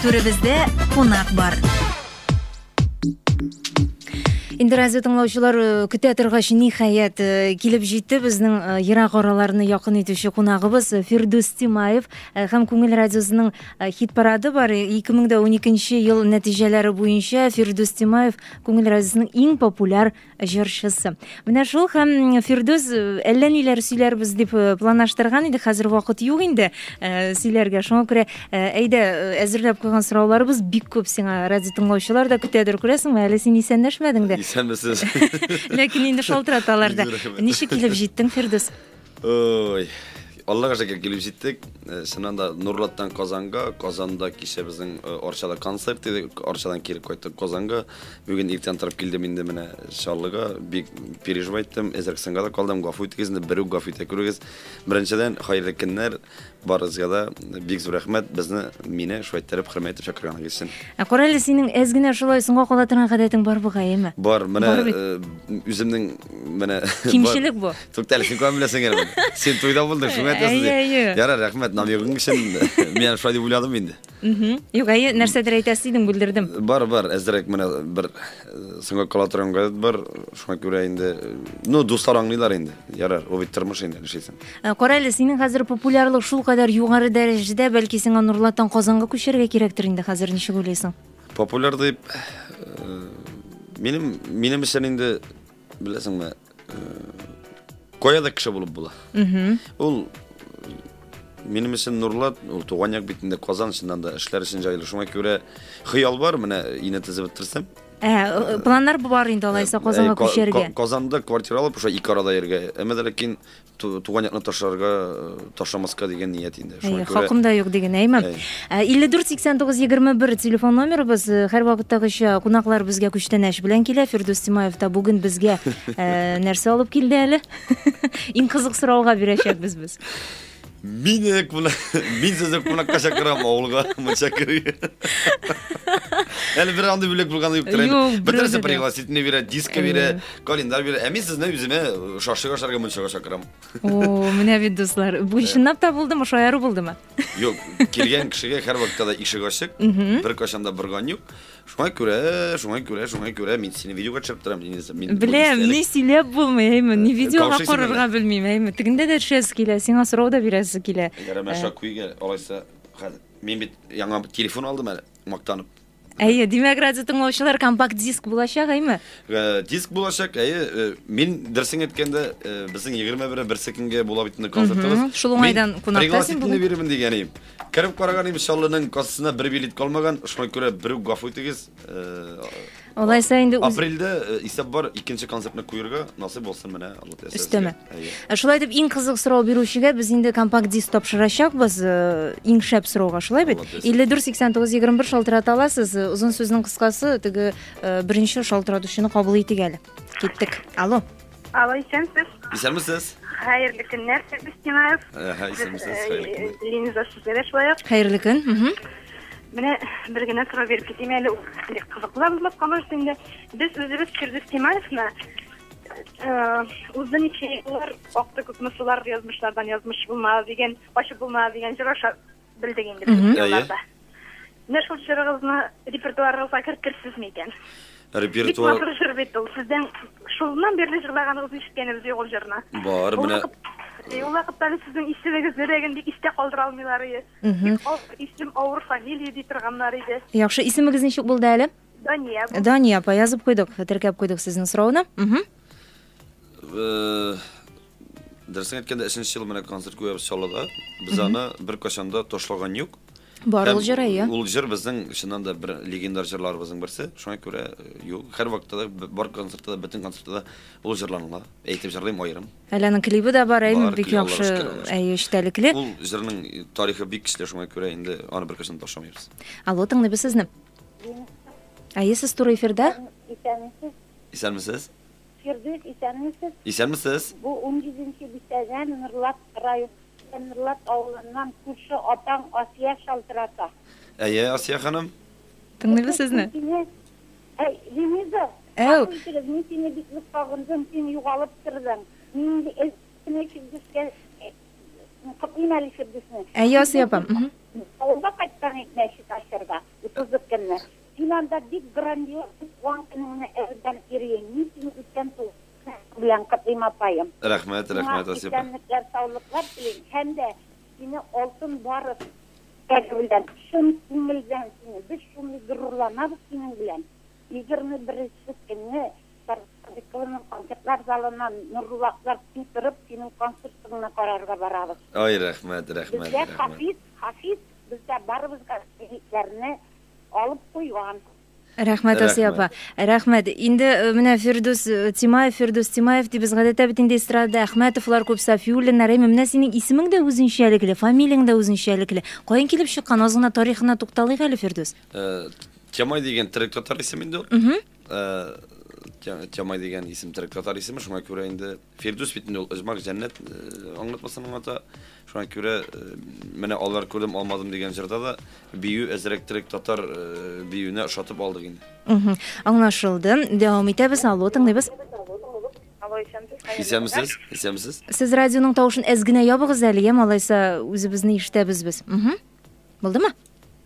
Түребездә кунак бар. Инде радио тыңлаучылар э, көтә торгач, ниһаять, э, килеп җитте безнең э, ерак араларны якын итүче кунагыбыз Фирдүс Тимаев һәм Күңел радиосының хит парады бар. 2012 ел нәтиҗәләре буенча Фирдүс Тимаев Күңел радиосының иң популяр җырчысы. Менә шул һәм Фирдүс э, әллә ниләр сөйләрбез дип э, планлаштырган иде. Хәзер вакыт юк инде э, сөйләргә. Шуңа күрә әйдә әзерләп куйган сорауларыбыз бик күп сиңа радио тыңлаучылар да көтәдер, күрәсеңме? Әле син исәнләшмәдең дә. Исәнмесез. Ләкин инде шалтыраталар да. Ничек килеп җиттең, Фирдүс? Ой, Аллага шәкер килеп җиттек. Э, чыннан да Нурлаттан Казанга, Казанда кичә безнең э, Арчада концерт иде. Арчадан килеп кайттык Казанга. Бүген иртән торып килдем инде менә Чаллыга. Бик переживайттым. Эзрәк сынга да калдым. Гафу итегез, инде берүк гафу итә күрегез. Беренчедән, хәерле көннәр. Барыгызга да бик зур рәхмәт, безне, мине шулай иттереп, хөрмәт итеп чакырганыгыз өчен. Ә кара әле, синең әз генә шулай соңга кала торган гадәтең бар бугай, әйеме? Бар, менә үземнең менә Кимчелек бу. Тукта әле, син каян беләсең әле? Син туйда булдың, шуңа әйтәсең. Әйе, әйе. Ярар, рәхмәт, намегың өчен. Мин шулай дип уйладым инде. Мхм. Юк, әйе, нәрсәдер әйтәсе идең, бүлдердем. Бар, бар, әзрәк менә бер э, соңга кала торган газет бар. Шуңа күрә инде, э, ну, дуслар аңлыйлар инде. Ярар, ул бит тормыш инде, нишлисең. Ә, Кара әле, синең хәзер популярлык шул кадәр югары дәрәҗәдә, бәлки сиңа Нурлаттан Казанга күчәргә кирәктер инде хәзер, ничек уйлыйсың? Популяр дип, э, минем, минем өчен инде Беләсеңме, кая да кеше булып була. Ул минем өчен нурлат, ул туган як битендә Казан чыннан да эшләр өчен җайлы. Шуңа күрә хыял бар, менә ине тезеп бетерсәм. Ә, планнар бар инде алайса Казанга күчәргә. Казанда квартира алып, шулай ике арада йөргә. Әмма ләкин туган якны ташларга ташламаска дигән ният инде шуңа күрә хакым да юк диген әйме илле дүрт сиксән тугыз егерме бер телефон номерыбыз һәрвакыттагыча кунаклар безгә күчтәнәч белән килә фирдүс тимаев та бүген безгә нәрсә алып килде әле иң кызык сорауга бирәчәкбез без Мине куна... Мин сезне кунакка чакырам авылга мунча керергә. Әле бер андый бүләк булганы юктыр. Юк, бер нәрсә пригласительный бирә, диско бирә. Календарь бирә. Ә мин сезне үземә шашлык ашарга мунчага чакырам. О, менә бит дуслар. Бу чынлап та булдымы, шаяру булдымы? Юк, килгән кешегә һәр вакытта да ишек ачык, бер кашан да борган юк. Шуңа күрә, шуңа күрә, шуңа күрә мин сине видеога төшереп торам, Лениса. Мин Беләм, ни сөйләп булмый, әйме, ни видеога карарга белмим, әйме. Тегендә дә төшәсе килә, сиңа сорау да бирәсе килә. Ярама шакуйга, алайса, мин бит яңа телефон алдым әле, мактанып. Әйе, димәк, радио тыңлаучылар компакт диск булачак, әйме? Э, диск булачак, әйе. Э, мин дөресен әйткәндә, э, безнең 21 берсе көнгә була бит инде концертыбыз. Шул уңайдан кунакта син бүген. бирермен дигән идем. Кереп караган идем, Шаллының кассасына бер билет калмаган. Шуңа күрә берүк гафу итегез. Алайса инде апрельдә исәп бар, икенче концертны куярга насыйп булсын менә. Өстәмә. Э, шулай итеп иң кызык сорау бирүчегә без инде компакт диск тапшырачакбыз э, иң шәп сорауга шулай бит илле дүрт сиксән тогыз егерме бер шалтырата аласыз э, озын сүзнең кыскасы теге беренче шалтыратучыны кабул итик әле киттек алло алло исәнсез исәнмесез хәерле көннәр сәбис тимаев исәнмесез линиза сезгә дә шулай ук хәерле көн менә бер генә сорау биреп китим әле кызыклы булмаска может инде без үзебез фирдүс тимаевны Узды ничә еллар, акты күпме сулар, язмышлардан язмыш булмас дигән, ачып булмас дигән җыр аша белдек инде без елларда. Менә шул җырыгызны репертуарыгызга кертерсезме икән? Репертуар. Бик матур җыр бит ул. Сездән шулнан бирле җырлаганыгызны ишеткәнебез юк ул җырны. Бар, менә. Ул вакытта без сезнең исемегезне дә инде истә калдыра алмыйлар иде. Бик авыр исем, авыр фамилия ди торганнар иде. Яхшы, исемегез ничек булды әле? Дания. Дания апа, язып куйдык, теркәп куйдык сезнең сорауны. Э, дөресен әйткәндә, өченче ел менә концерт куябыз Чаллыда. Без аны беркайчан да ташлаган юк. Бар ул җыр, әйе. Ул җыр безнең чыннан да бер легендар җырларыбызның берсе. Шуңа күрә э, юк, һәр вакытта да бар концертта да, бөтен концертта да ул җырланыла. Әйтеп җырлыйм аерым. Әле аның клибы да бар, әйе, бик яхшы, әйе, эчтәлекле. Ул җырның тарихы бик көчле, шуңа күрә инде аны беркайчан ташламыйбыз. Алло, тыңлыйбыз сезне. Әйе, сез туры эфирда. Исәнмесез. Исәнмесез. Фирдүс, исәнмесез. Исәнмесез. Бу 17 бистәдән Норлат районы Норлат авылыннан күрше апаң Асия шалтырата. Әйе, Асия ханым. Тыңлыйбыз сезне. Әй, Линиза, Әу. Итегез, мин сине бик нык сагындым, син югалып тордың. Мин инде эзләп кенә Фирдүскә Котлыйм әле ишек дисне. Ә ясый апам. Авылга кайттың ит мәчет ачырга. Утызы көнне. Син анда бик грандиоз туган көнеңне әүдән ирейең. Мин сине үткән туган көнең белән котлыйм апаем. Рәхмәт, рәхмәт Асия апа. Сиңа исәнлекләр саулыклар телим һәм дә сине алтын барыс теләге белән. Чын күңелдән сине. Без шундый горурланабыз синең белән. Егерме беренче көнне Сарыксадыйкованың концертлар залыннан Нуруллаклар көй торып, синең концертыңны карарга барабыз. Ай, рәхмәт, рәхмәт, Безгә рәхмәт. Хафиз, Хафиз безгә барыбызга билетларны алып куйган. Рәхмәт, Асия апа. Рәхмәт. Рәхмәт. Инде менә Фирдүс Тимаев, Фирдүс Тимаев дибез. Гадәттә бит инде эстрадада Әхмәтовлар күп, Сафиуллиннар. Әйме, менә синең исемең дә үзенчәлекле, фамилияң дә үзенчәлекле. Каян килеп чыккан? Аз гына тарихына тукталыйк әле, Фирдүс. Тямай дигән терек татар исем инде ул. Тямай дигән исем терек татар исеме, шуңа күрә инде Фирдүс бит инде ул Ижмак җәннәт аңлатмасын аңлата. Шуңа күрә менә алар күрдем алмадым дигән җырда да бию әзрәк терек татар биюенә ошатып алдык инде. Аңлашылды. Дәвам итәбез. Алло, тыңлыйбыз. Алло, исәнмесез. Исәнмесез. Исәнмесез. Сез радионың тавышын әз генә ябыгыз әле, яме, алайса үзебезне ишетәбез без. Булдымы?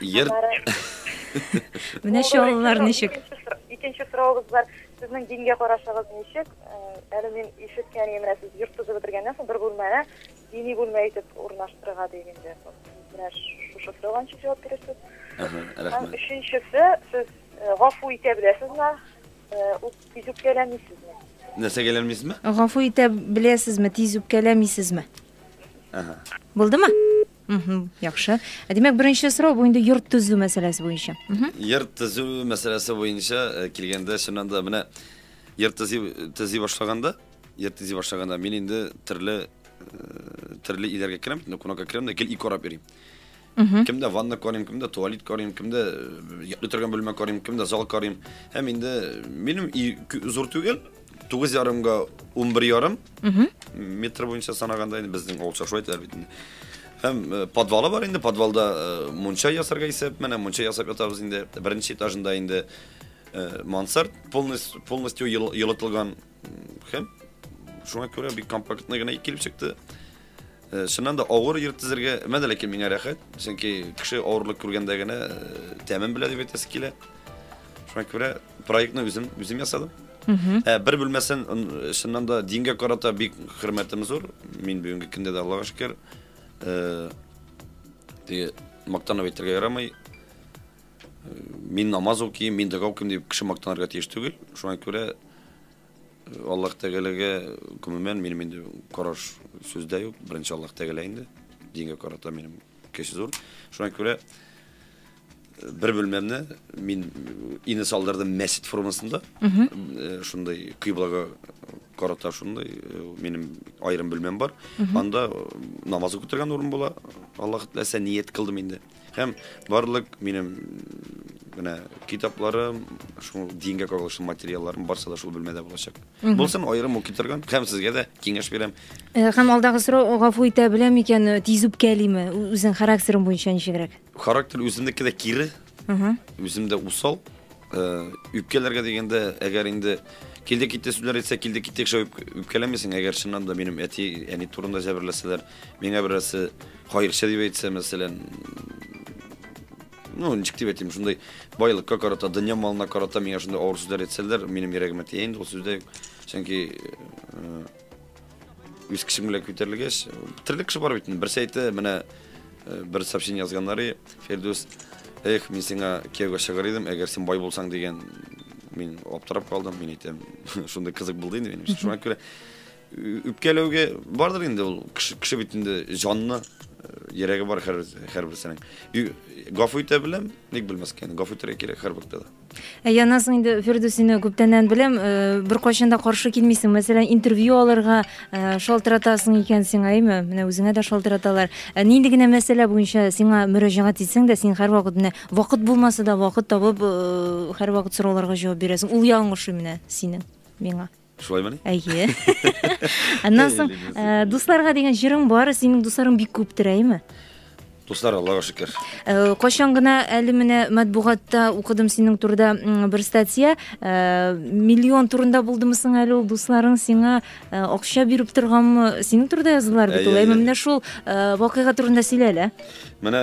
Йыр. Аннары Менә чаллылар ничек. Икенче сор- Икенче соравыбыз бар. Сезнең дингә карашыгыз ничек? Э, Әле мин ишеткән идем, менә сез йорт төзеп бетергәннән соң бер бүлмәне дини бүлмә итеп урнаштырырга дип инде. Менә ш- шушы сорауга ничек җавап бирерсез? Ага, Һәм рәхмәт. өченчесе, сез э, гафу итә беләсезме? Э, үп- Тиз үпкәләмисезме? Нәрсә гәләмисезме? Гафу итә беләсезме, тиз үпкәләмисезме? Ага. Булдымы? Яхшы. Ә димәк, беренче сорау бу инде йорт төзү мәсьәләсе буенча. Йорт төзү мәсьәләсе буенча э, килгәндә, чыннан да менә йорт төзи, төзи башлаганда, йорт төзи башлаганда мин инде төрле э, төрле иләргә керәм, ну, кунакка керәм дә гел ике карап йөрим. Кемдә ванна карыйм, кемдә туалет карыйм, кемдә э, ятлый торган бүлмә карыйм, кемдә зал карыйм. Һәм инде минем ий кө- зур түгел, Тугыз ярымга унбер ярым метр буенча санаганда инде безнең авыл чашу әйтәләр бит инде. Һәм э, подвалы бар инде, подвалда э, мунча ясарга исәп, менә мунча ясап ятабыз инде. Беренче этажында инде э, мансард полностью, полностью елытылган һәм шуңа күрә бик компактный гына килеп чыкты. Чыннан да авыр йөрт тезергә мәдә ләкин миңа рәхәт, чөнки кеше авырлык күргәндә генә тәмен белә дип әйтәсе килә. Шуңа күрә проектны үзем үзем ясадым. Ә бер бүлмәсен чыннан да дингә карата бик хөрмәтем зур. Мин бүгенге көндә дә Аллага шөкер. Теге мактанып әйтергә ярамый. Мин намаз укыйм, мин дога укыйм дип кеше мактанырга тиеш түгел. Шуңа күрә Аллаһ Тәгаләгә, гомумән, минем инде караш сүздә юк. Беренче Аллаһ Тәгалә инде. Дингә карата минем көч зур. Шуңа күрә бер бүлмәмне мин ине салдырдым мәсет формасында. Э, шундый кыйблага карата шундый э, минем аерым бүлмәм бар. Анда э, намаз укытырган урын була. Аллаһ теләсә ният кылдым инде. Һәм барлык минем менә китапларым, шул дингә кагылышлы материалларым барсы да шул бүлмәдә булачак. Булсын, аерым ук китергән, һәм сезгә дә киңәш бирәм. Э, һәм алдагы сорау гафу итә белә микән, э, тиз үпкәлиме? Үзең характерың буенча ничегрәк? Характер үземнеке дә кире. Үзем дә усал. Э, үпкәләргә дигәндә, әгәр инде килде китте сүзләр әйтсә, килде китте кеше үпкәләмисең, әгәр чыннан да минем әти, әни турында җәберләсәләр, Миңа берәрсе кайырчы дип әйтсә, мәсәлән, ну, ничек дип әйтим, шундый байлыкка карата, дөнья малына карата миңа шундый авыр сүзләр әйтсәләр, минем йөрәгемә тия инде ул сүздә. Чөнки э, үз кешем белән күтәрелгәч, төрле кеше бар бит инде. Берсе әйтте, менә э, бер сообщение язганнары, Фердус, эх, мин сиңа кияүгә чыгар идем, әгәр син бай булсаң дигән мин аптырап калдым, мин әйтәм, шундый кызык булды инде минем. Шуңа күрә Үпкәләүгә бардыр инде ул кеше, кеше бит инде җанны йөрәге бар хәр һәрберсенең гафу итә беләм ник белмәскә инде гафу итәргә кирәк һәрбер кешегә Яназ инде Фирдүс сине күптәннән беләм, э, беркайчан да каршы килмисең. Мәсәлән, интервью алырга э, шалтыратасың икән сиңа, әйме? Менә үзеңә дә шалтыраталар. Э, нинди генә мәсьәлә буенча сиңа мөрәҗәгать итсәң дә, син һәрвакыт менә вакыт булмаса да вакыт табып, һәрвакыт сорауларга җавап бирәсең. Ул ягың ошый менә синең миңа. Шулаймыни? Әйе. Аннан соң, э, дусларга дигән җырың бар, синең дусларың бик күптер, әйме? Дуслар, Аллага шөкер. Э, кайчан гына әле менә матбугатта укыдым синең турыда бер статья, э, миллион турында булдымы соң әле ул дусларың сиңа акча биреп торганмы? Синең турыда язылар бит ул. Әйме, менә шул вакыйга турында сөйлә әле. Менә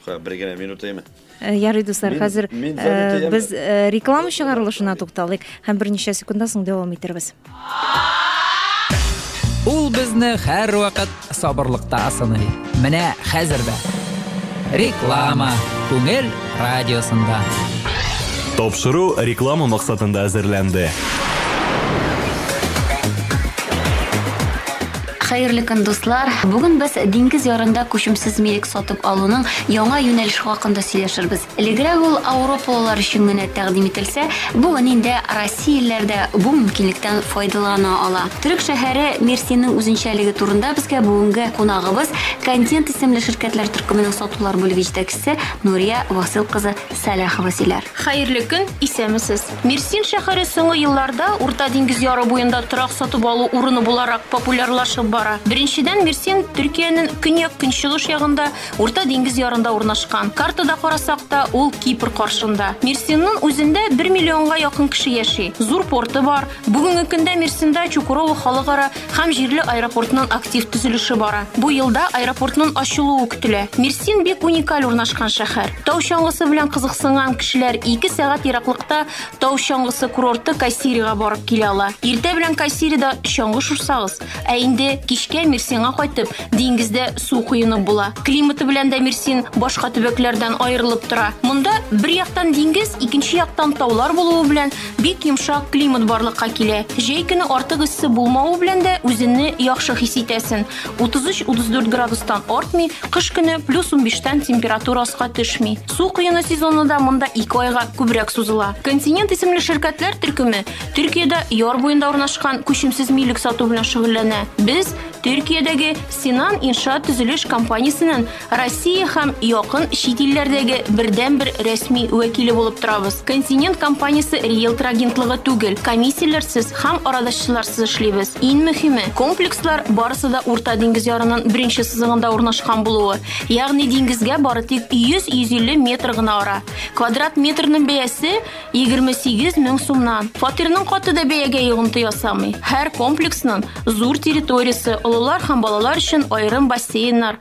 Ха, бер генә минутыймы? Э, ярый, дуслар, хәзер э, без э, реклама чыгарылышына тукталыйк һәм берничә секундтан соң дәвам итәрбез. Ул безне һәрвакыт сабырлыкта сыный. Менә хәзер дә. Реклама Күңел радиосында. Тапшыру реклама максатында әзерләнде. Хәерле көн, дуслар! Бүген без диңгез ярында күчемсез милек сатып алуның яңа юнәлеше хакында сөйләшербез. Элегрәк ул ауропалылар өчен генә тәкъдим ителсә, бүген инде россиялеләр дә бу мөмкинлектән файдалана ала. Төрек шәһәре Мерсинең үзенчәлеге турында безгә бүгенге кунагыбыз, Контент исемле ширкәтләр төркеменең сатулар бүлеге җитәкчесе Нурия Васыйл кызы Сәлахова сөйләр. Хәерле көн, исәмесез! Мерсин шәһәре соңгы елларда Урта диңгез яры буенда торак сатып алу урыны буларак популярлашып бара. Беренчедән, Мерсин Төркиянең көньяк-көнчыгыш ягында, Урта диңгез ярында урнашкан. Картада карасак та, ул Кипр каршында. Мерсиннын үзендә бер миллионга якын кеше яши. Зур порты бар. Бүгенге көндә Мерсинда Чукурово халыкара һәм җирле аэропортның актив төзелеше бара. Бу елда аэропортның ачылуы көтелә. Мерсин бик уникаль урнашкан шәһәр. Тау чаңгысы белән кызыксынган кешеләр 2 сәгать ераклыкта Тау чаңгысы курорты Кайсирига барып килә ала. Иртә белән Кайсирида чаңгы шурсагыз, ә инде кичкә Мерсинга кайтып, диңгездә су коенып була. Климаты белән дә Мерсин башка төбәкләрдән аерылып тора. Монда бер яктан диңгез, икенче яктан таулар булуы белән Бик йомшак климат барлыкка килә. Җәй көне артык эссе булмавы белән дә үзенне яхшы хис итәсен. 33-34 градустан артмый, кыш көне плюс 15-тән температура аска төшми. Су коену сезоны да монда 2 айга күбрәк сузыла. Континент исемле ширкәтләр төркеме Төркиядә яр буенда урнашкан күчемсез милек сату белән шөгыльләнә. Без Төркиядәге Синан иншаат төзелеш компаниясеннән Россия һәм якын чит илләрдәге бердәнбер рәсми вәкиле булып торабыз. Континент компаниясе риэлтор агентлыгы түгел, комиссияләрсез һәм арадашчыларсыз эшлибез. Иң мөһиме, комплекслар барысы да Урта диңгез ярының беренче сызыгында урнашкан булуы, ягъни диңгезгә бары тик 100-150 метр гына ара. Квадрат метрның бәясе 28 мең сумнан. Фатирның каты да бәягә йогынты ясамый. Һәр комплексның зур территориясе, олылар һәм балалар өчен аерым бассейннар,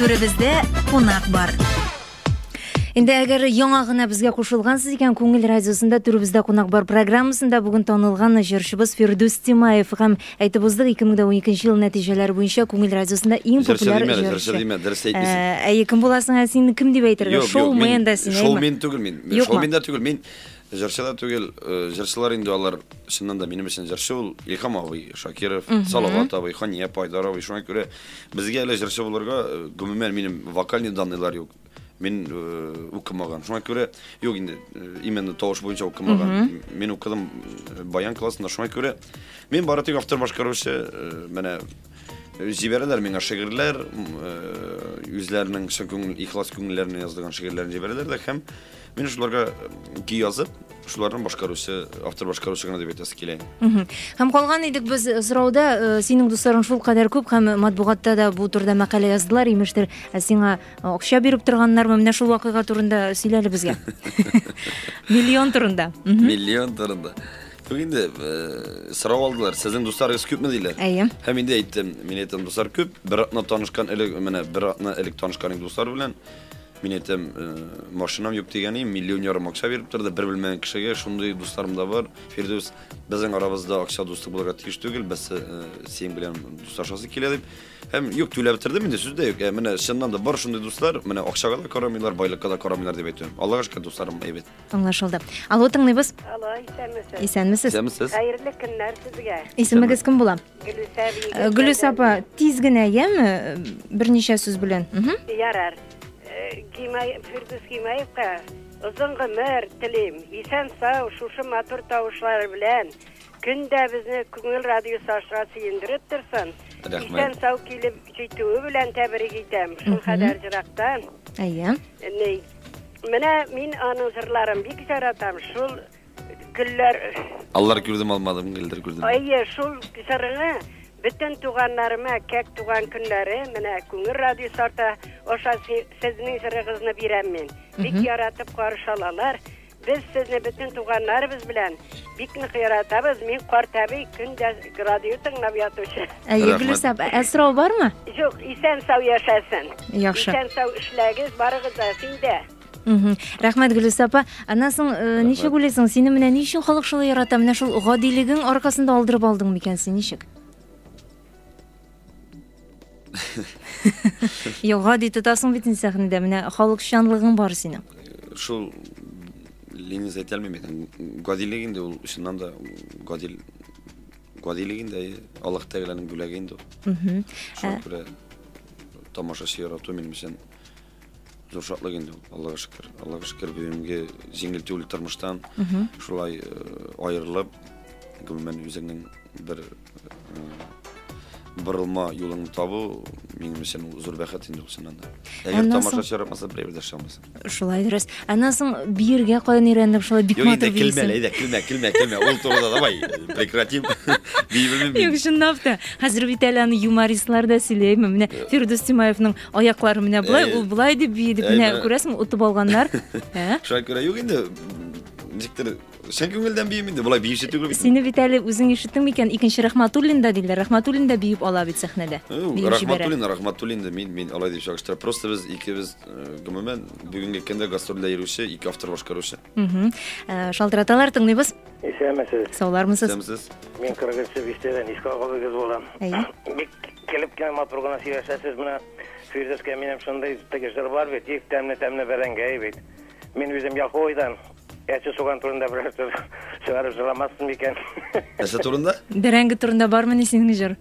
Түребездә кунак бар. Инде әгәр яңа гына безгә кушылгансыз икән, Күңел радиосында түребездә кунак бар программасында бүген танылган җырчыбыз Фирдүс Тимаев һәм әйтеп уздык 2012 ел нәтиҗәләре буенча Күңел радиосында иң популяр җырчы. Җырчы димә, дөрес әйтмисең. Ә кем буласың син? Кем дип әйтергә? Шоумен да син. Шоумен түгел мин. Шоумен да түгел мин. Җырчы да түгел, җырчылар инде алар, чыннан да минем өчен җырчы ул Илһам абый Шакиров, Салават абый, Хания апа, Айдар абый. Шуңа күрә безгә әле җырчы булырга, гомумән, минем вокальный данныйлар юк. Мин укымаган. Шуңа күрә, юк инде, именно тавыш буенча укымаган. Мин укыдым баян классында. Шуңа күрә мин бары тик автор башкаручы, менә җибәрәләр миңа шигырьләр, үзләренең чын күңел, ихлас күңелләреннән язылган шигырьләрен җибәрәләр дә һәм Мин шуларга ки язып, шуларның башкаручы, автор башкаручы гына дип әйтәсе килә. Һәм калган идек без сорауда, э, синең дусларың шул кадәр күп һәм матбугатта да бу турыда мәкалә яздылар, имештер, ә сиңа э, акча биреп торганнармы? Менә шул вакыйга турында сөйлә әле безгә. Миллион турында. Миллион турында. Юк инде, э, сорау алдылар, сезнең дусларыгыз күпме диләр? Әйе. Һәм инде әйттем, мин әйтәм, дуслар күп, бер атна танышкан элек, менә бер атна элек танышкан идек дуслар белән. Мин әйтәм, машинам юк дигәнем, миллион ярым акча биреп торды, бер белмәгән кешегә, шундый дусларым да бар. Фирдүс, безнең арабызда акча дуслык булырга тиеш түгел, без синең белән дуслашасы килә дип. Һәм юк, түләп бетердем инде, сүз дә юк. Ә менә чыннан да бар шундый дуслар, менә акчага да карамыйлар, байлыкка да карамыйлар дип әйтәм. Аллага шөкер, дусларым әйбәт. Аңлашылды. Алло, тыңлыйбыз. Алло, исәнмесез. Исәнмесез. Исәнмесез. Хәерле көннәр сезгә. Исемегез кем була? Гөлүс апа, тиз генә, яме, берничә сүз белән. Ярар. Гимай, Фирдүс Гимаевка озын гомер телим. Исән сау, шушы матур тавышлары белән көн дә безне Күңел радиосы аша сөендереп торсын. Исән сау килеп җитүе белән тәбрик итәм. Шул кадәр җырактан. Әйе. Менә мин аның җырларын бик яратам. Шул Гөлләр. Аллар күрдем алмадым, гөлләр күрдем. Әйе, шул җырыңы бөтен туганнарыма кәк туган көннәре менә Күңел радиосы арты аша сезнең җырыгызны бирәм мин. Бик яратып каршы алалар. Без сезне бөтен туганнарыбыз белән бик нык яратабыз. Мин картәби көн дә радио тыңлап ятучы. Әйе, Гөлүсә апа, ә сорау бармы? Юк, исән-сау яшәсен. Яхшы. Исән-сау эшләгез, барыгыз да, син дә. Рәхмәт, Гөлүс апа. Аннан соң э, ничек уйлыйсың, сине менә ни өчен халык шулай ярата? Менә шул гадилегең аркасында алдырып алдың микән син ничек? Юк, гади тотасың бит инде сәхнәдә. Менә халыкчанлыгың бар синең. Шул линия әйтә алмыйм икән. Гадилек инде ул чыннан да гадил гадилек инде әйе. Аллаһ Тәгаләнең бүләге инде ул. Шуңа күрә тамашачы ярату минем өчен Зур шатлык инде ул, Аллага шөкер. Аллага шөкер, бүгенге җиңел түгел тормыштан шулай э, аерылып, гомумән үзеңнең бер э, борылма юлыңны табу минем өчен ул зур бәхет инде ул чыннан да. Әгәр Аннан соң- тамашачы яратмаса, берәү дә шамасы. Шулай дөрес. Аннан соң биергә каян өйрәнеп, шулай бик Юк, матур инде килмә, бирсең. әйдә, килмә, килмә, килмә. Ул турыда давай, прекратим. Бибелмим Юк, мин. чынлап та. Хәзер бит әле аны юмористлар да сөйләйме? Менә Фирдүс Тимаевның Аяклары менә болай, ул болай дип бии дип менә күрәсең, отып алганнар. Шуңа күрә юк инде. Ничектер чын күңелдән биим инде, болай биюче түгел бит. Сине бит әле үзең ишеттеңме икән, икенче Рахматуллин да диләр. Рахматуллин да биеп ала бит сәхнәдә. Рахматуллин, Рахматуллин да мин, мин алай дип чагыштырам. Просто без икебез, гомумән, бүгенге көндә гастрольдә йөрүче ике автор башкаручы. Мхм. Э, Шалтыраталар, тыңлыйбыз. Исәнмесез. Саулармысыз? Исәнмесез. Мин 40 бистәдән искә агызыгыз булам. Әйе. Бик килеп кенә матур гына сөйләшәсез. Менә Фирдүскә минем шундый теге җыр бар бит, их тәмле тәмле бәрәңгәй бит. Мин үзем Яхуайдан әче суган турында берәр сүз чыгарып җырламассың микән? Нәрсә турында? Бәрәңге турында бармыни синең җыр?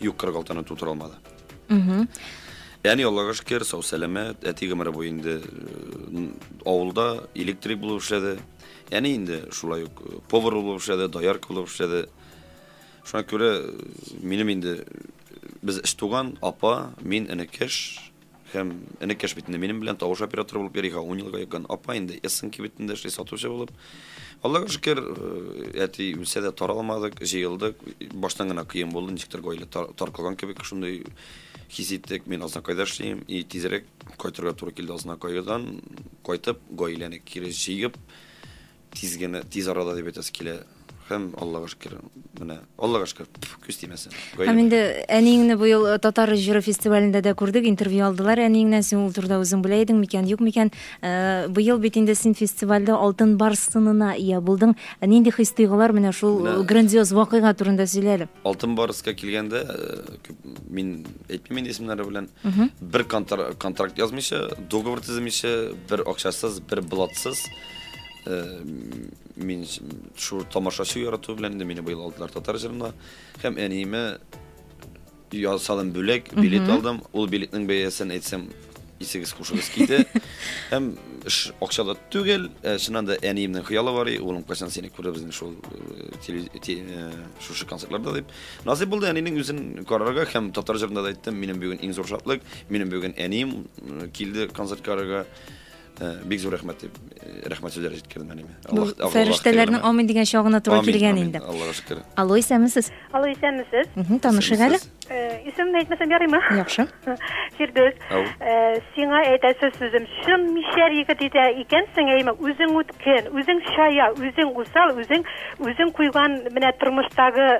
Юк, 46 ны тутыра алмады. Угу. Әни Аллага шөкер, сау сәламәт, әти гомере буе инде э, авылда электрик булып эшләде. Әни инде шулай ук э, повар булып эшләде, доярка булып эшләде. Шуңа күрә э, минем инде без өч туган, апа, мин энекеш, Һәм энекәш бит инде минем белән тавыш операторы булып йөри, һәм ун елга якын. Апа инде Эссен кибетендә эшли, сатучы булып. Аллага шөкер, әти үлсә дә, таралмадык, җыелдык. Баштан гына кыен булды, ничектер гаилә таркалган кебек шундый хис иттек. Мин Азнакайда эшлим, и тизрәк кайтырга туры килде Азнакайдан. Кайтып, гаиләне кире җыеп, Тиз генә, тиз арада дип әйтәсе килә. Һәм Аллага шөкер, менә Аллага шөкер, пф, күз тимәсен. Гаилә Һәм инде әниеңне быел э, татар җыры фестивалендә дә күрдек, интервью алдылар әниеңнән, син ул турыда үзең белә идең микән, юк микән. Э, Быел бит инде син фестивальдә Алтын бар сынына ия булдың. Э, Нинди хис-тойгылар менә шул Менә- э, грандиоз вакыйга турында сөйлә әле. Алтын барыска килгәндә, э, күп, мин әйтмим инде исемнәре белән. Бер контр- контракт язмыйча, договор төземичә, бер акчасыз, бер блатсыз, мин шул тамашачы ярату белән инде мине быел алдылар татар җырына һәм әниемә ясадым бүләк билет алдым ул билетның бәясен әйтсәм исегез хушыгыз китә һәм акча да түгел ә, чыннан да әниемнең хыялы бар и улым кайчан сине күрербез шул шушы концертларда дип насыйп булды әнинең үзен карарга һәм татар җырында да әйттем минем бүген иң зур шатлык минем бүген әнием килде концерт карарга Э, бик зур рәхмәт дип э, рәхмәт сүзләре җиткердем әниемә ну, фәрештәләрнең амин дигән чагына туры килгән инде аллага шөкер алло исәнмесез алло исәнмесез танышыйк әле э, исемемне әйтмәсәм ярыймы яхшы фирдүс сиңа әйтәсе сүзем чын мишәр егет итә икәнсең әйме үзең үткен үзең чая үзең усал үзең үзең куйган менә тормыштагы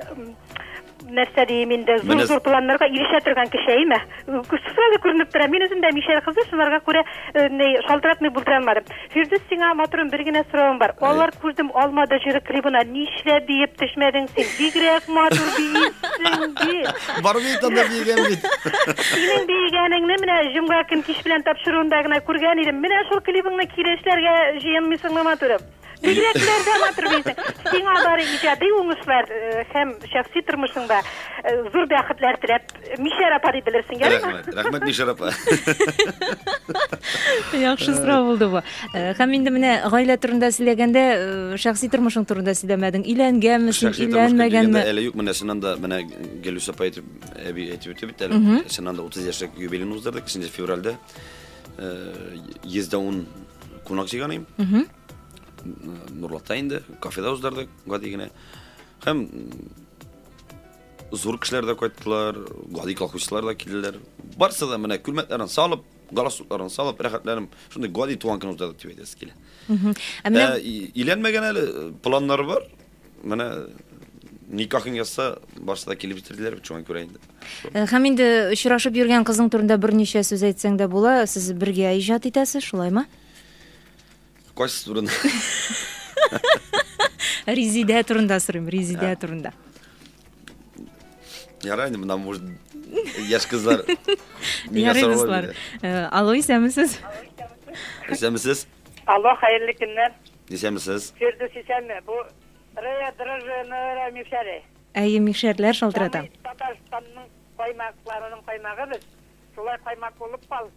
нәрсә дим инде, зур-зур планнарга ирешә торган кеше әйме? Сразу күренеп тора. Мин үзем дә мишәр кызы, шуларга күрә э, ни шалтыратмый булдыра алмадым. Фирдүс, сиңа матурым бер генә соравым бар. Алар күрдем алмады җыры клибына нишлә биеп төшмәдең син? Бигрәк матур биисең бит. Бар бит анда биегән бит. Синең биегәнеңне менә җомга көн кич белән тапшыруында гына күргән идем. Менә шул клибыңны кире эшләргә җыенмыйсыңмы матурым? Бигрәкләр дә матур бизәк. Сиңа бары иҗади уңышлар э, һәм шәхси тормышыңда э, зур бәхетләр теләп, Мишәр апа дип белерсең, ярыймы? Рәхмәт, рәхмәт Мишәр апа. Яхшы сорау булды бу. Э, Һәм инде менә гаилә турында сөйләгәндә, э, шәхси тормышың турында сөйләмәдең. Өйләнгәнме син, Шәхси тормышка килгәндә өйләнмәгәнме? әле юк, менә чыннан да, менә Гелүс апа әйтеп, әби әйтеп үтте бит әле. Чыннан да 30 яшьлек юбилейны уздырдык, 2 февральдә. Э, 110 кунак җыйганыйм. Нурлатта инде, кафеда уздырдык, гади генә. Һәм зур кешеләр дә кайттылар, гади колхозчылар да килделәр. Барсы да менә күлмәкләрен салып, галстукларын салып, рәхәтләнеп, шундый гади туган көн уздырдык дип әйтәсе килә. Ә менә э, иләнмәгән әле планнар бар. Менә никахын язса, барсы да килеп җитерделәр бит, шуңа күрә инде. Э, һәм инде очрашып йөргән кызың турында берничә сүз әйтсәң дә була, сез бергә иҗат итәсез, шулаймы? Кайсы турында? Резидә турында сорыйм, Резидә турында. Ярай, инде мына может яшь кызлар миңа сорау Алло, исәнмесез? Исәнмесез? Алло, хәерле көннәр. Исәнме сез. Фирдүс исәнме, бу Рея дрожжиеныры мишәре. Әйе, мишәрләр шалтырата. Самый Татарстанның каймакларының каймагы без, шулай каймак булып кал.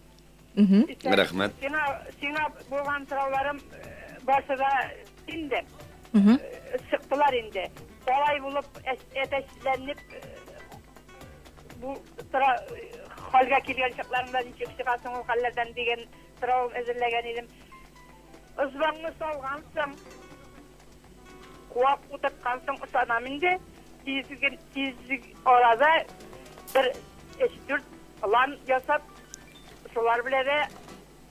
Мхм. Исән. Рәхмәт. Сиңа, сиңа булган сорауларым барсы да инде. Мхм. Чыктылар инде. Алай булып әтәчләнеп бу тора хәлгә килгән чакларында ничек чыгасың ул хәлләрдән дигән сорау әзерләгән идем. Ызваңны салгансың, куак утырткансың, ышанам инде, тиз ге, тиз арада бер өч-дүрт план ясап, шулар белә дә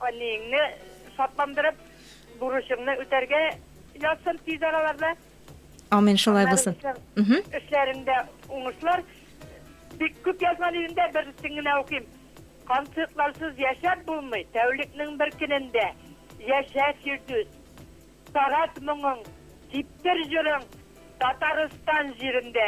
әниеңне шатландырып, бурычыңны үтәргә язсын тиз араларда. Амин, шулай булсын. Эшләрендә уңышлар. Бик күп язган идем дә, берсен генә укыйм. Концертларсыз яшәп булмый, тәүлекнең бер көнендә. Яшә, Фирдүс. Тарат моңың, типтер җырың Татарстан җирендә.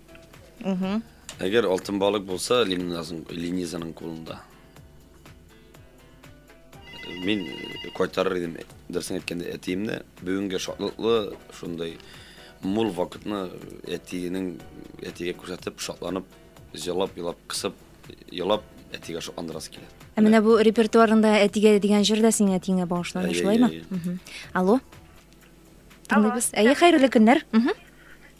Әгәр алтын балык булса, Ленизаның кулында. Мин кайтарыр идем, дөресен әйткәндә, әтиемне. Бүгенге шатлыклы, шундай мул вакытны әтиенең әтигә күрсәтеп, шатланып, җылап, елап, кысып, елап, әтигә шатландырасы килә. Ә менә бу репертуарында әтигә дигән җыр да синең әтиеңә багышлана, шулаймы? Алло. Тыңлыйбыз. Әйе, хәерле көннәр.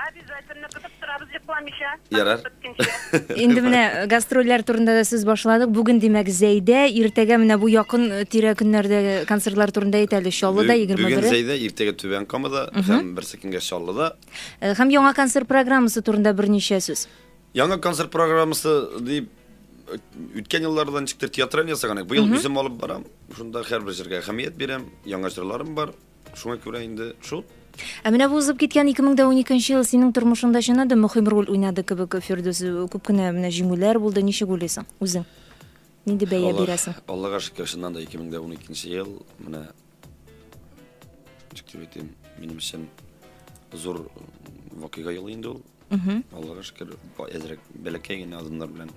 Обязательно көтеп торабыз йокламыйча. Ярар. Инде менә э, гастрольләр турында да сүз башладык. Бүген димәк Зәйдә, иртәгә менә бу якын э, тирә көннәрдә концертлар турында әйт әле. Чаллыда 21. Бүген Зәйдә, иртәгә Түбән Камада һәм берсе көнгә Чаллыда. Э, һәм яңа концерт программасы турында берничә сүз. Яңа концерт программасы дип үткән елларда ничектер театраль ясаган идек. Быел үзем алып барам. Шунда һәрбер җырга әһәмият бирәм. Яңа җырларым бар. Шуңа күрә инде шул. Ә менә бу узып киткән 2012 ел синең тормышыңда чыннан да мөһим роль уйнады кебек, Фирдүс. Күп кенә менә җиңүләр булды. Ничек уйлыйсың үзең? Нинди бәя Аллах, бирәсең? Аллага шөкер, чыннан да 2012 ел менә ничек дип әйтим, минем өчен зур вакыйга елы инде ул. Угу. Аллага шөкер, әзрәк бәләкәй генә адымнар белән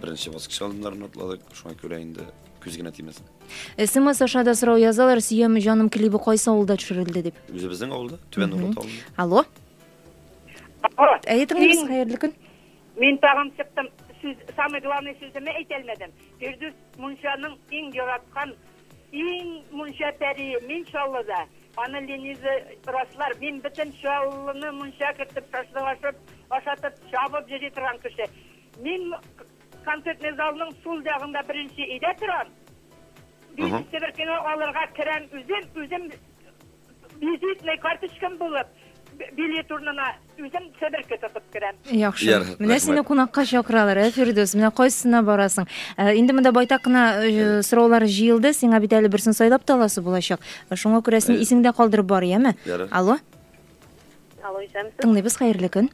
беренче баскыч адымнарын атладык. Шуңа күрә инде күз генә тимәсен. СМС аша да сорау язалар, сөям җаным клибы кайсы авылда төшерелде дип. Үзебезнең авылда, Түбән Урат авылы. Алло. Алло. Әйе, тыңлыйбыз, хәерле көн. Мин тагын чыктым. Сүз, самый главный сүземне әйтә алмадым. Фирдүс Мунчаның иң яраткан Иң мунча пәрие, мин Чаллыда. Аны Лениза раслар. Мин бөтен Чаллыны мунча кертеп, шашлык ашап, ашатып, чабып йөри торган кеше. Мин концертный залның сул ягында беренче өйдә торам. Бишенче беркене алырга керәм үзем, үзем Визитный карточкам булып, билет урнына үзем себерке тотып керәм. Яхшы. Менә сине кунакка чакыралар, ә Фирдүс, менә кайсына барасың? Э, инде монда байтак кына э, сораулар җыелды, сиңа бит әле берсен сайлап та аласы булачак. Э, шуңа күрә син исеңдә калдырып бар, яме? Алло? Алло, исәнмесез. Тыңлыйбыз, хәерле көн.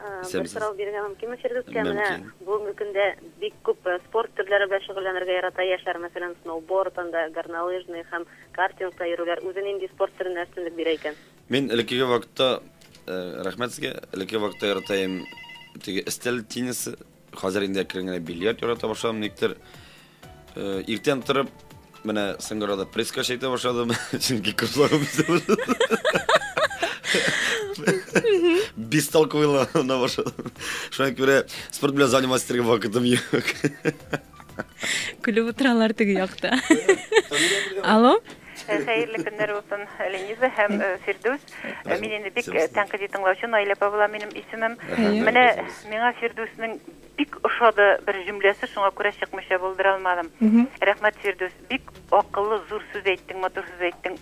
Бер сорау бирергә мөмкинме Фирдүскә? Менә бүгенге көндә бик күп спорт төрләре белән шөгыльләнергә ярата яшьләр, мәсәлән, сноуборд, анда горнолыжный һәм картингта йөрүләр. Үзе нинди спорт төренә өстенлек бирә икән? Мин элеккеге вакытта, рәхмәт сезгә, элеккеге вакытта яратаем, теге өстәл теннисы, Хәзер инде әкрен генә бильярд ярата башладым, никтер. Э, иртән торып, менә сыңгырада пресска чәйтә башладым, чөнки кызларым бестолковыйлана башладым. Шуңа күрә спорт белән заниматься итәргә вакытым юк. Көлеп утыралар теге якта. Алло? Хәерле көннәр булсын, Лениза һәм э, Фирдүс. Э, мин инде бик э, тәнкыйди тыңлаучы Наилә Павла минем исемем. Менә миңа Фирдүснең бик ошады бер җөмләсе, шуңа күрә чыкмыйча булдыра алмадым. Рәхмәт, Фирдүс. Бик акыллы, зур сүз әйттең, матур сүз әйттең.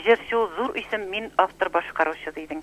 Җырчы ул зур исем, мин автор башкаручы дидең.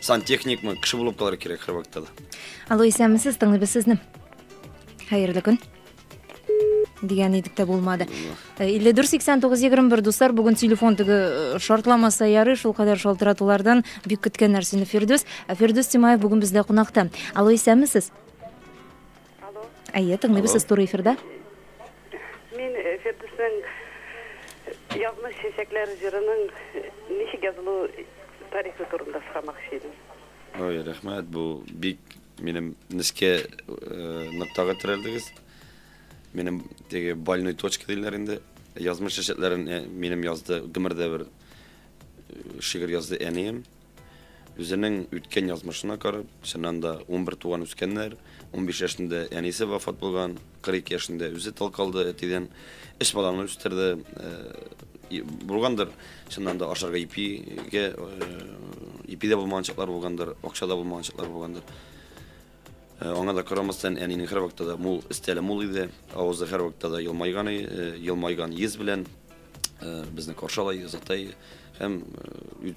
сантехникмы кеше булып калырга кирәк һәр вакытта да алло исәнмесез тыңлыйбыз сезне хәерле көн дигән идек тә булмады э, илле дүрт сиксән тугыз егерме бер дуслар бүген телефон теге э, шартламаса ярый шул кадәр шалтыратулардан бик көткән нәрсәне фирдүс ә фирдүс тимаев бүген бездә кунакта алло исәнмесез Алло. Әйе, тыңлыйбыз, Алло. сез туры эфирда. Мин э, Фирдүснең Язмыш чәчәкләре җырының э, ничек язылу тарихы турында сорамакчы идем. Ой, рәхмәт, бу бик минем нескә э, ноктага терәлдегез. Минем теге больной точка диләр инде. Язмыш чәчәкләрен э, минем язды, гомердә бер э, шигырь язды әнием. Үзенең үткән язмышына карап, чыннан да, унбер туган үскәннәр, унбиш яшендә әнисе вафат булган, кырык ике яшендә үзе тол калды, әтидән өч баланы үстерде. Булгандыр, чыннан да, ашарга ипигә, ипи дә булмаган чаклар булгандыр, акча да булмаган чаклар булгандыр. Аңа да карамастан, әнинең һәрвакытта да мул, стиле мул иде. Авызы һәрвакытта да елмайган, елмайган йөз белән безне каршы ала, озатай. Һәм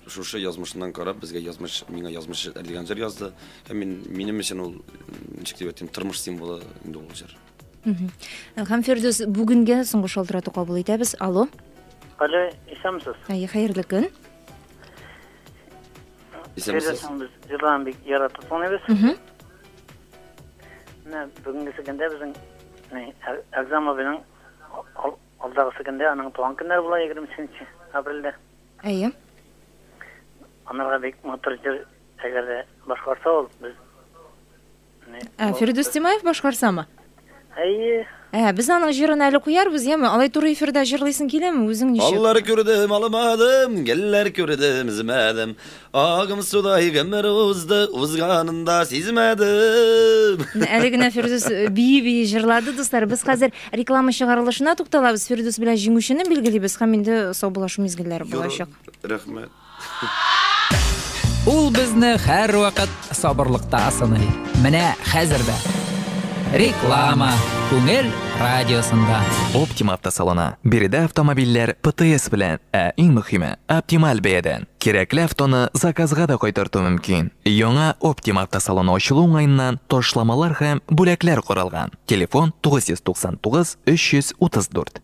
шушы язмышыннан карап, безгә язмыш, миңа язмыш дигән җыр язды. Һәм мин, минем өчен ул, ничек дип әйтим, тормыш символы инде ул җыр. Һәм Фирдүс, бүгенгә соңгы шалтырату кабул итәбез. Алло. Алло, исәнмесез. Әйе, хәерле көн. Исәнмесез. Җырларын бик яратып тыңлыйбыз. Менә бүгенге көндә безнең Әгъзам абыйның алдагы көндә аның туган көннәре була 23 апрельдә. Әйе. Анарга бик матур җыр әгәр дә башкарса ул без Ә Фирдүс Тимаев башкарсамы? Әйе. Ә, без аның җырын әле куярбыз, яме? Алай туры эфирда җырлыйсың киләме? Үзең ничек? Аллар күрдем, алмадым, гөлләр күрдем, өзмәдем. Агым судай гомер узды, узганын да сизмәдем. Әле генә Фирдүс э, бии-бии җырлады, дуслар. Без хәзер реклама чыгарылышына тукталабыз. Фирдүс белән җиңүчене билгелибез һәм инде саубулашу мизгелләре булачак. Рәхмәт. Ул безне һәрвакыт сабырлыкта сыный. Менә хәзер дә. Реклама Күңел радиосында. Optima автосалоны. Биредә автомобильләр ПТС белән, ә иң мөхиме, оптималь бәядән. Кирәкле автоны заказга да кайтарту мөмкин. Яңа Optima автосалоны ачылу уңаеннан ташламалар һәм бүләкләр каралган. Телефон 999 334.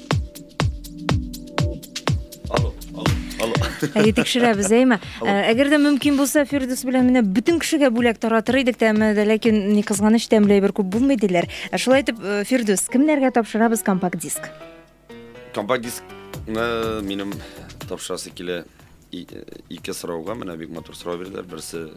Әйе, тикшерәбез, әйме? Ә, әгәр дә мөмкин булса, Фирдус белән менә бөтен кешегә бүләк таратыр идек тә, әмма дә ләкин ни кызганыч тәмле әйбер күп булмый диләр. Ә шулай итеп, э, Фирдус, кемнәргә тапшырабыз компакт диск? Компакт дискны минем тапшырасы килә и- ике сорауга. Менә бик матур сорау бирделәр. Берсе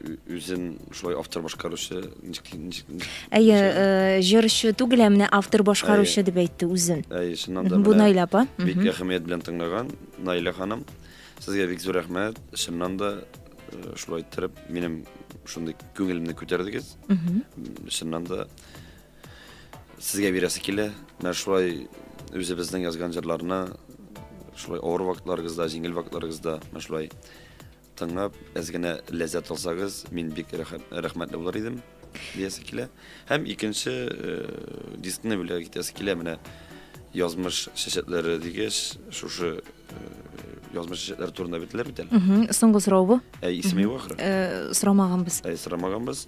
үзен шулай автор башкаручы ничек ничек әйе э, җырчы түгел ә менә автор башкаручы дип әйтте үзен әйе чыннан да бу наилә апа бик әһәмият белән тыңлаган наилә ханым сезгә бик зур рәхмәт чыннан да э, шулай иттереп минем шундый күңелемне күтәрдегез чыннан да сезгә бирәсе килә менә шулай үзебезнең язган җырларны шулай авыр вакытларыгызда җиңел вакытларыгызда менә шулай Тыңлап, әз генә ләззәт алсагыз, мин бик рәхмәтле булыр идем, диясе килә. Һәм икенче э, дискны бүләк итәсе килә менә язмыш чәчәкләре дигәч, шушы э, язмыш чәчәкләре турында бетләр бит әле. Соңгы сорау бу. Ә исеме юк ахры. Э, сорамаганбыз. Ә сорамаганбыз.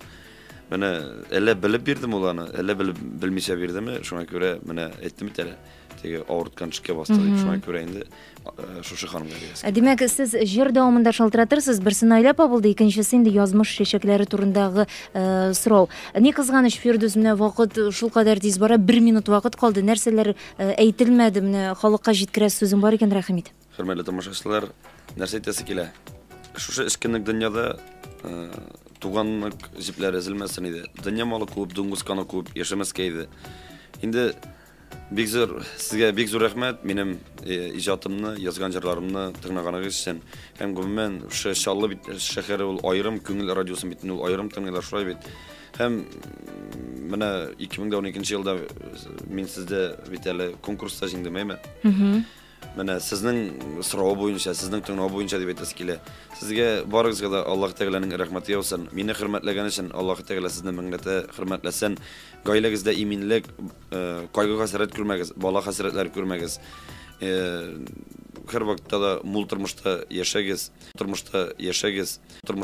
Менә әллә белеп бирдем ул аны, әллә белеп белмичә бирдеме, шуңа күрә менә әйттем бит әле. Теге авырткан шикә басты дип, шуңа күрә инде Э, шушы ханымга бирәсез. Э, димәк, сез җыр дәвамында шалтыратырсыз, берсе Наилә апа булды, икенчесе инде язмыш чәчәкләре турындагы э, сорау. Ни кызганыч, Фирдүс, менә вакыт шулкадәр тиз бара, бер минут вакыт калды, нәрсәләр әйтелмәде, менә халыкка җиткерәс сүзең бар икән, рәхим ит. Хөрмәтле тамашачылар, нәрсә әйтәсе килә? Шушы эскенлек дөньяда туганлык җепләре өзелмәсен иде. Дөнья малы күп, дуңгыз каны күп, яшәмәскә иде. Инде Бик зур сезгә бик зур рәхмәт минем иҗатымны, язган җырларымны тыңлаганыгыз өчен. Һәм гомумән шушы Чаллы бит шәһәре ул аерым күңел радиосын бит ул аерым тыңлыйлар шулай бит. Һәм менә 2012 елда мин сездә бит әле конкурста җиңдем, әйме? Менә сезнең сорау буенча, сезнең тыңлау буенча дип әйтәсе килә. Сезгә барыгызга да Аллаһ Тәгаләнең рәхмәте яусын. Мине хөрмәтләгән өчен Аллаһ Тәгалә сезне меңләтә хөрмәтләсен. Гаиләгездә иминлек, э, кайгы-хәсрәт күрмәгез, бала хәсрәтләре күрмәгез. Э, һәрвакытта да мул тормышта яшәгез, тормышта яшәгез.